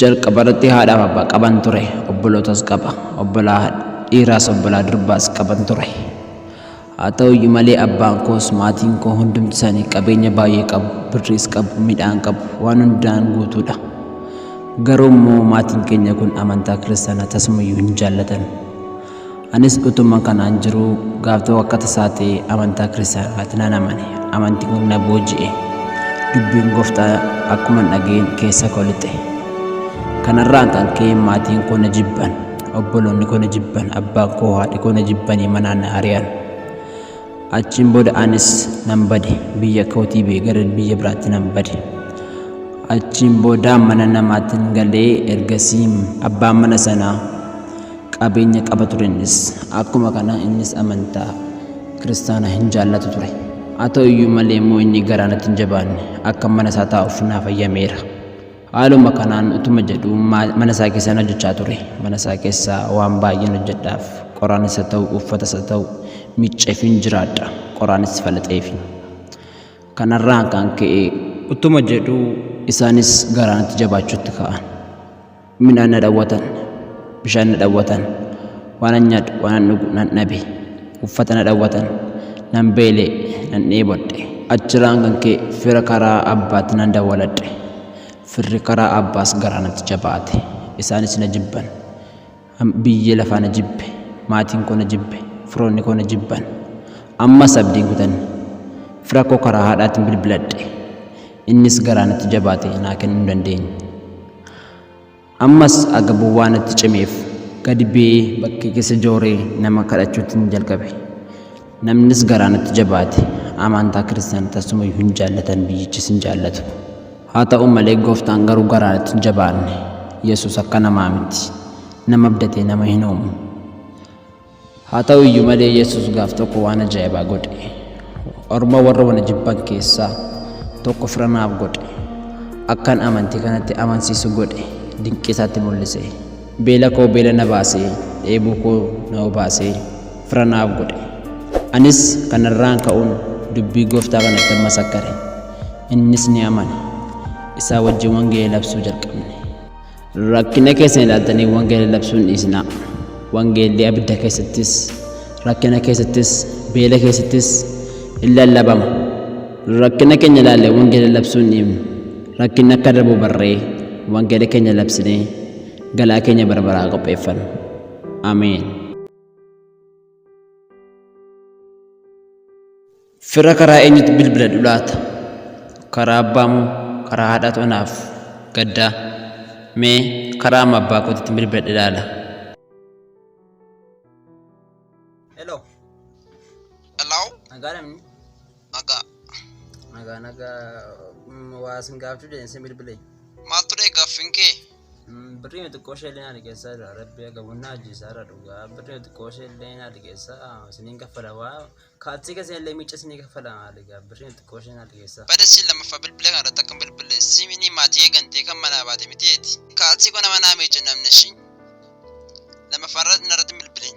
Jalqaba irratti haadhaaf abbaa qaban ture, obbolootas qaba, obbolaa dhiiraas obbolaa durbaas qaban ture. Haa ta'u iyyuu malee abbaan koos maatiin koo hundumti isaanii qabeenya baay'ee qabu, birriis qabu, midhaan qabu, waan hundaan guutuudha. Garuu immoo maatiin keenya kun amantaa kiristaanaa tasumayyuu hin jaallatan. Anis utuma kanaan jiruu gaaf tokko akka tasaa ta'e amantaa kiristaanaa irratti nan amane. Amantiin kun na booji'e. Dubbiin gooftaa akkuman dhaga'een keessa koo lixe. Kanarraan kan ka'e maatiin koo na jibban, obboloonni koo na jibban, abbaan koo haadhi koo na jibbanii manaa na ari'an. Achiin booda anis nan bade, biyya kootii bee gara biyya biraatti nan bade. Achiin booda mana namaatiin galee ergasii abbaan mana sanaa Qabeenya qaba ture innis. Akkuma kana innis amantaa kiristaanaa hin jaallatu ture. Haa ta'u iyyuu malee immoo inni garaa natti hin jabaanne akka mana isaa taa'uuf naaf hayyameera. Haaluma kanaan utuma jedhuu mana isaa keessaan hojjechaa ture. Mana isaa keessaa waan baay'een hojjedhaaf. Qoraanis haa ta'u uffatas haa ta'u miicceefiin jiraadha. Qoraanis falaxeefi. Kanarraan kan ka'e utuma jedhuu isaanis garaa natti jabaachuutti ka'an. Midhaan na dhawwatan, bishaan na dhawwatan, waanan nyaadhu, waanan dhugu nan dhabe, uffata na dhawwatan, nan beele, nan dheebodhe. Achirraan kan ka'e fira karaa abbaatti nan dawwaladhe, firri karaa abbaas garaa natti jabaate, isaanis na jibban. Biyyi lafaa na jibbe, maatiin koo na jibbe, firoonni koo na jibban. Ammas abdiin kutanne. Fira koo karaa haadhaatiin bilbiladhe. Innis garaa natti jabaate naa kennuu hin dandeenye. Ammas agabuu waan natti cimeef gadi ba'ee bakkee keessa jooree nama kadhachuuttin jalqabe. Namnis garaa natti jabaate amantaa kiristaana tassumayyuu hin jaallatan biyyichis hin jaallatu. Haa ta'u malee gooftaan garuu garaa natti hin jabaanne. Yesus akka namaa miti. Nama abdatee nama hin uumu. Haa ta'u iyyuu malee Yesus gaaf tokko waan ajaa'ibaa godhe. Orma warra wana jibban keessaa tokko fira naaf godhe. Akkan amantii kanatti amansiisu godhe dinqii isaatti mul'ise. Beela koo beela na baasee, dheebuu koo na obaasee fira naaf godhe. Anis kanarraan ka'uun dubbii gooftaa kanattan masakkare. Innis ni amane. Isaa wajjin wangeela labsuu jalqabne. Rakkina keessan ilaaltanii wangeela labsuun dhiisinaa. Wangeelli abidda keessattis, rakkina keessattis, beela keessattis in lallabama. Rakkina keenya ilaalle wangeela labsuun dhiifnu. Rakkinni akka darbu barree wangeela keenya labsinee galaa keenya barbaraa qopheeffanna. Ameen. Fira karaa eenyutti bilbiladhu laata? Karaa abbaa moo karaa haadhaatu anaaf gaddaa? Mee karaa amma abbaa kootitti bilbiladhe ilaala. Hello. Hello. Nagaa namni. Nagaa. Nagaa nagaa mm, waa sin gaafachuu jedheen sin bilbilee. Maal ture gaaffiin kee? Mm, Birrii xiqqoo ishee illee na liqeessaa jira. Rabbi agabunna ajjeesaa irra dhugaa. Birrii xiqqoo ishee illee na liqeessaa isiniin kaffala waa. Kaatsii keessan illee miicca isinii kaffala maali gaa. Birrii xiqqoo ishee na liqeessaa. Bada siin lammaffaa bilbilee kana irratti akka hin bilbille siimini maatii eegantee kan manaa baate miti eeti. Kaatsii koo nama naa miicca namni ishii. Lammaffaa irratti narratti hin bilbilin.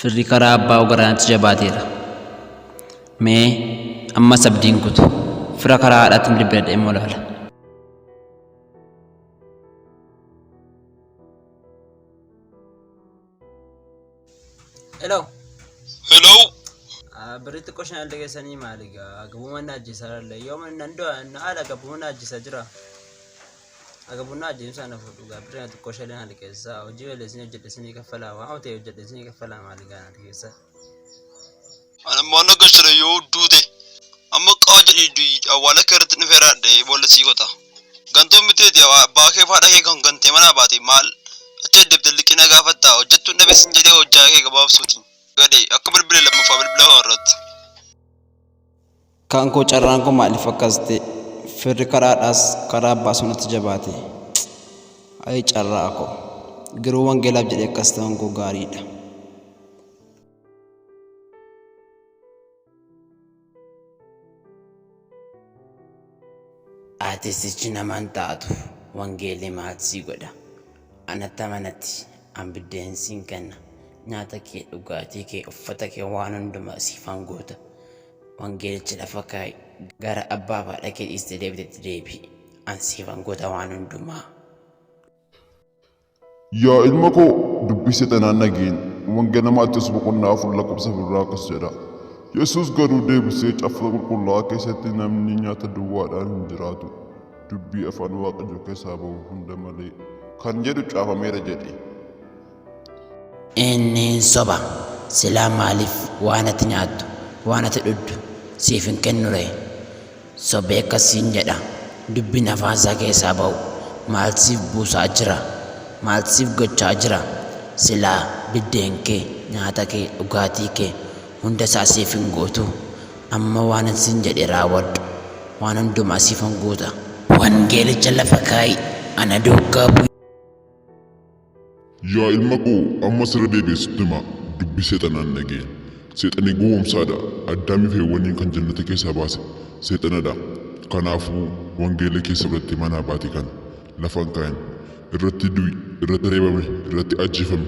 Firri karaa abbaa ogaraanatti jabaateera. Mee ammas abdiin kutu. Fira karaa haadhaatti hin bilbiladha immoo laala. Hello. Hello. Birritti qoshaan alda keessanii maali gaa? Gabumaan na ajjeesaa lalle. Yoo nan du'a na ala gabumaan na ajjeesaa jira. Aga bunaa ajeemsaa na fuudhu gaabbirri na tokko shalee na liqeessaa hojii malee isin hojjedhe isinii kaffalaa waan hotee hojjedhe isinii kaffalaa maali gaana liqeessaa. Anammaan akka shire yoo duute amma qaa jedhii du'i awwaala kee irratti dhufee raadhee boolla sii gota. Gantuu miteeti abbaa kee faadha kee kan gantee manaa baate maal achi addebte liqina gaafatta hojjettuun dhabe sin jedhee hojjaa kee gabaabsuuti. Gadhee akka bilbile lammaffaa bilbila koo irratti. Kan koo carraan koo maaliif akkas ta'e firri karaadhaas karaa baasuu natti jabaate cc ayii carraa koo garuu wangeelaaf jedhee akkas ta'uun koo gaariidha. Aartistichi nama hin taatu wangeelli maat si godha. Anatti amanatti an biddeen siin kenna. Nyaata kee dhugaatii kee uffata kee waan hundumaa siifan guuta. Wangeelicha lafa kaa'i. Gara abbaa fi haadha kee dhiistee deebitetti deebi'i. An siifan godha waan hundumaa. Yaa ilma koo dubbisi tanaan dhageen wangela maatiyoos boqonnaa afur lakkoofsa birraa akkas jedha yesus garuu deebisee caaffata qulqullaa'aa keessatti namni nyaata duwwaadhaan hin jiraatu dubbii afaan waaqayyoo keessaa ba'u hunda malee kan jedhu caafameera jedhe Inni hin soba. Silaa maaliif waan ati nyaattu, waan ati dhuddu siif hin kennu ree? Sobee akkas siin jedha. Dubbiin afaan isaa keessaa ba'u maal siif buusaa jira? Maal siif gochaa jira? Silaa biddeen kee, nyaata kee, dhugaatii kee hunda isaa siif hin guutu. Amma waanan siin jedhe raawwadhu. Waan hundumaa siifan guuta. Wangeelicha lafa kaa'i, ana duukaa bu'i. Yaa ilma koo ammas irra deebi'ee sitti hima dubbii seexanaan dhaga'e. Seexanii gowwoomsaadha. Addaamiif Heewwaniin kan jannata keessaa baase seexanadha. Kanaafuu wangeela kee sirratti manaa baate kana lafa hin kaa'in. Irratti du'i, irratti reebame, irratti ajjeefami.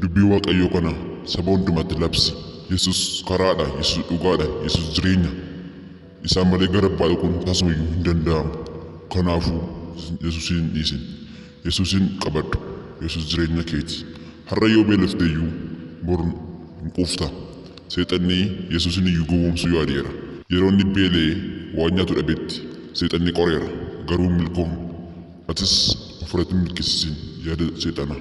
Dubbii Waaqayyoo kana saba hundumatti labsi. Yesus karaadha, Yesus dhugaadha, Yesus jireenya. Isaan malee gara Abbaa dhaquun tasumayyuu hin danda'amu. Kanaafuu Yesuusiin hin dhiisin. Yesuusiin qabadhu. Yesuus jireenya keeti. Har'a yoo beelofteyyuu bor hin quufta. Seexanni Yesuusiniyyuu gowwoomsuu yaadeera. Yeroo inni beela'ee waan nyaatu dhabetti Seexanni qoreera, garuu hin milkoofne. Atis ofirratti hin milkeessisin yaada Seexanaa.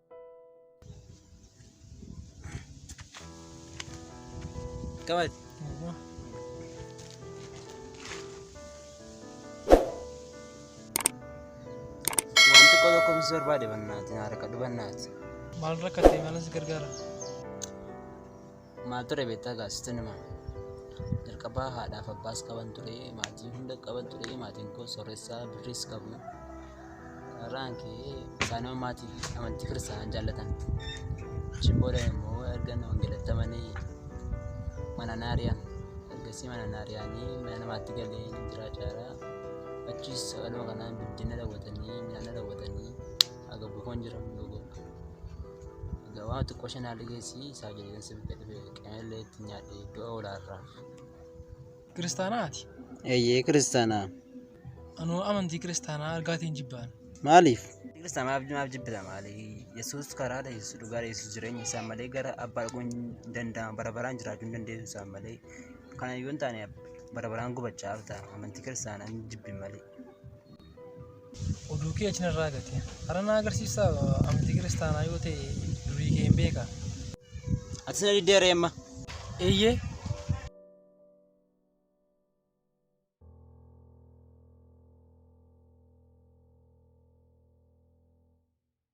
Qabati. Waan xiqqoo tokko mis barbaade bannaati harka dhubannaati. Maal rakkate malas gargaara? Maal ture beektaa gaa sitti nima. Jalqabaa haadhaaf abbaas qaban ture maatii hunda qaban ture maatiin koo sooressaa birriis qabu. Irraan kee isaanuma maatii fi amantii kiristaanaan jaallatan. Achiin booda immoo erga na wangeelatti amanee mana naari'an ergasii mana naari'anii mana namaatti galee jiraachaa jira. Achiis sagaluma kanaan bilbila na daawwatanii midhaan na daawwatanii haga bukoon jiramu yoo godha egaa waan xiqqoo ishee naa ligeessi isaa jedheen si bitta dhufe qemeellee itti nyaadhe du'a olaarraa Kiristaanaati. eeyyee kiristaanaa Anuu amantii kiristaanaa argaatiin jibbaan. maaliif Kiristaana maaf maaf jibbita maali yesuus karaadha yesuus dhugaadha yesuus jireenya isaa malee gara abbaa dhaquu hin danda'amu bara baraan jiraachuu hin dandeessu isaa malee kana yoo hin taane bara baraan gubachaa ta'a amantii kiristaanaa hin jibbin malee Oduu kee achi narraa gate. Hara na agarsiisa amantii kiristaanaa yoo ta'e durii kee hin beeka. Atis na diddee reemma. Eeyyee.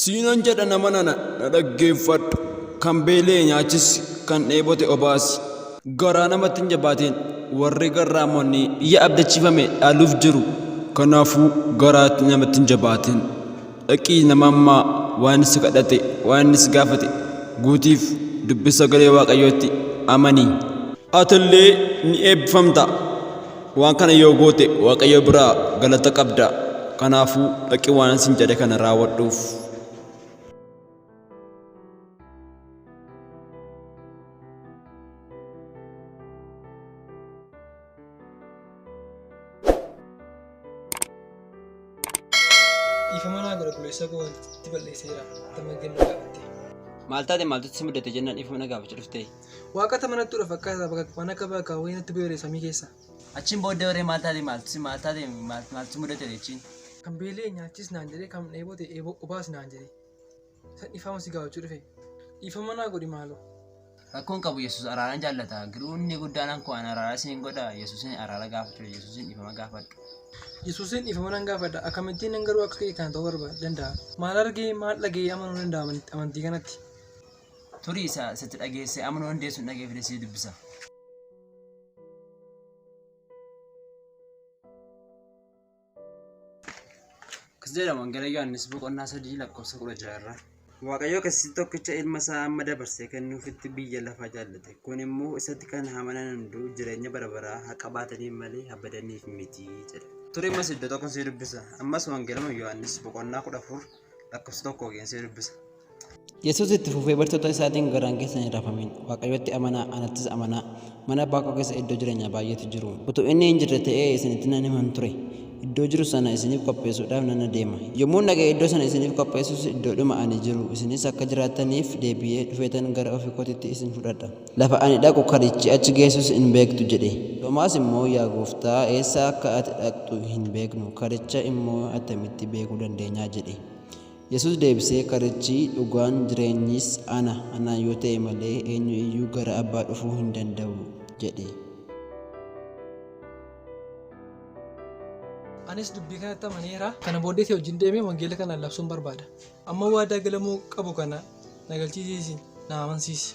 Siinan jedha nama nana na dhaggeeffadhu kan beelee nyaachisi kan dheebote obaasi garaa namatti hin jabaatiin warri garraamonni biyya abdachiifame dhaaluuf jiru kanaafuu garaatti namatti hin jabaatiin. Dhaqii nama ammaa waan si kadhate waan inni si gaafate guutiif dubbi sagalee waaqayyootti amani. Atillee ni eebbifamta. Waan kana yoo goote waaqayyo biraa galata qabda. Kanaafuu dhaqi waan isin jedhe kana raawwadhuuf. Dhiifama naa godha buleessa koo wanti balleesseera. Tama gadi na gaafatte. Maal taate maaltu si mudate jennaan dhiifama na gaafachuu dhufte. Waaqata manatti dura fakkaata bakka waan akka bakka wayii natti bu'eera samii keessa. Achiin booddee warree maal taate maaltu si maal taate maal- maaltu si mudate jechiin. Kan beela'e nyaachis naan jedhee kan dheebote eeboo obaas naan jedhee. Isa dhiifama si gaafachuu dhufe. Dhiifama naa godhi maaloo. Rakkoon qabu Yesus araara jaallata. Giruu inni guddaan anko an araara siin godha Yesusin araara gaafachuu Yesusin dhiifama gaafadhu. Yesusin dhiifama nan gaafadha. Akkamittiin nan garuu akka kee kana ta'uu barbaada danda'a. Maal argee maal dhaga'ee amanuu danda'a amanti- amantii kanatti? Turii isa isatti dhageesse amanuu dandeessu hin dhageeffide sii dubbisa. Akkas jedhama Wangeela Yohaannis boqonnaa sadii lakkoofsa kudha ja'a irraa. Waaqayyo keessatti tokkicha ilma isaa amma dabarsee kennuufitti biyya lafaa jaallate. Kun immoo isatti kan amanan hunduu jireenya bara baraa haa qabaataniif malee haa badaniif miti jedha. Ture ammas iddoo tokko si dubbisa. Ammas Wangeeluma Yohaannis boqonnaa kudha afur lakkoofsa tokko geen si dubbisa. Yesuus itti fufee bartoota isaatiin garaan keessan hin rafamin. Waaqayyotti amanaa, anattis amanaa. Mana abbaa koo keessa iddoo jireenyaa baay'eetu jiru. Utuu inni hin jirre ta'ee isinitti nan himan ture. Iddoo jiru sana isiniif qopheessuudhaaf nan adeema. Yommuun dhaqee iddoo sana isiniif qopheessus iddoodhuma ani jiru isinis akka jiraattaniif deebi'ee dhufeetan gara ofii kootitti isin fudhadha. Lafa ani dhaqu karichi achi geessus hin beektu jedhe. Toomaas immoo, Yaa Gooftaa, eessa akka ati dhaqxu hin beeknu, karicha immoo attamitti beekuu dandeenya? jedhe. Yesuus deebisee, Karichi, dhugaan, jireenyis ana, anaan yoo ta'e malee eenyu iyyuu gara Abbaa dhufuu hin danda'u jedhe. Anis dubbii kanatti amaneera. Kana booddee si wajjin deemee wangeela kana labsuun barbaada. Amma waadaa galamuu qabu kana na galchisiisi, na amansiisi.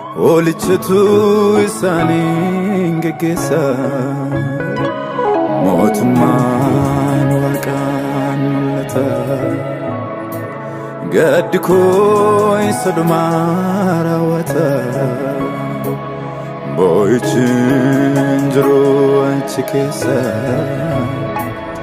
Hoolichatu isaaniin geggeessa mootummaan waaqaan mul'ata gaddi koo isa dhumaa raawwata boo'ichi hin jiru achi keessa